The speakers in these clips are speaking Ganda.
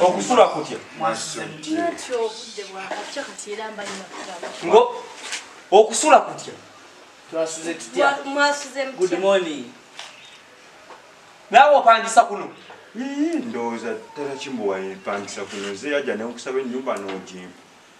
okusula kutya ngo okusula kutya naawe opangisa kuno ndowooza ddala kimuwaye mpangisa kuno nze yajja nekusaba ennyumba n'ojimpa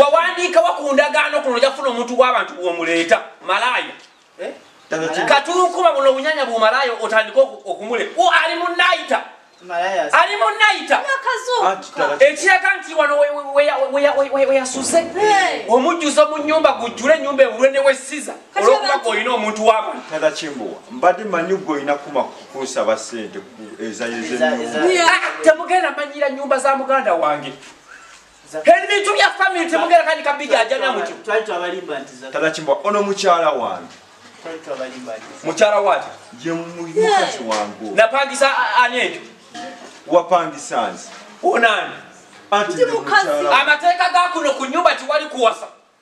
wawandiikawa ku ndagaano kuno oja kufuna omuntu wabantu bwomuleeta malaaya eh? katunkuma buno obunyanya bumalaaya otandika okumule ali munayita ali munayita ekiraga nti wano weyasuze omujjuzo mu nyumba gujjule enyumba ewulwe newesiza olwokuba golina omuntu wabantukimbuwa mbadde manyi golina kuma kukunsaba sente ezayezetemugenda ah, manyira nyumba za muganda wange ebintu bya famiry temugera kandi kabijajamya mutyo tabakimbwa ono mukyala wange mukyala wati yemukazi wange napangisa ani ekyo wapangisa nze onani amateeka gakuno ku nyumba tiwali kuwasa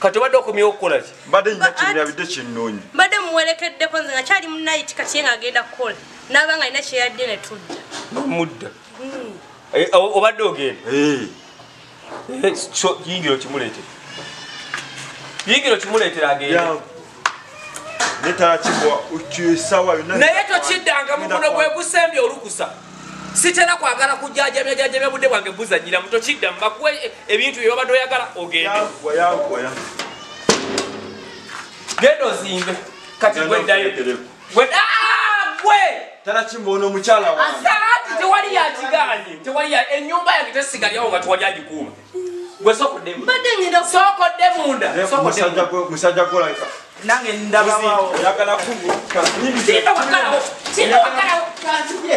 kati obadde okomyewo okukola ki mbadde nyina kinyabidde kinnunyi mbadde muwerekeddeko nze nga kyali munayiti kati ye nga agenda kukola naaba nga alina kyeyadde ne tudda mudda hmm. eh, obadde ogenda eh. Eh, yingira okimuleetera yingira okimuleetera agenda naye tokiddanga mukono gwegusembye olukusa sitera kwagala kujajabya jajabya budde bwange buzanyira mu tokidda mubakuwe e, ebintu bye babadde oyagala ogende genda ozimbe kati gweddayo tewali yakigaanye tewali enyumba yange tesigalyawo nga tewali agikuuma gwe soko demu mbadde ngenda soko demunda soko demu musajja gwe like nange ndabawo yagala kubu tinda wakalawo tinda wakalawo kanzije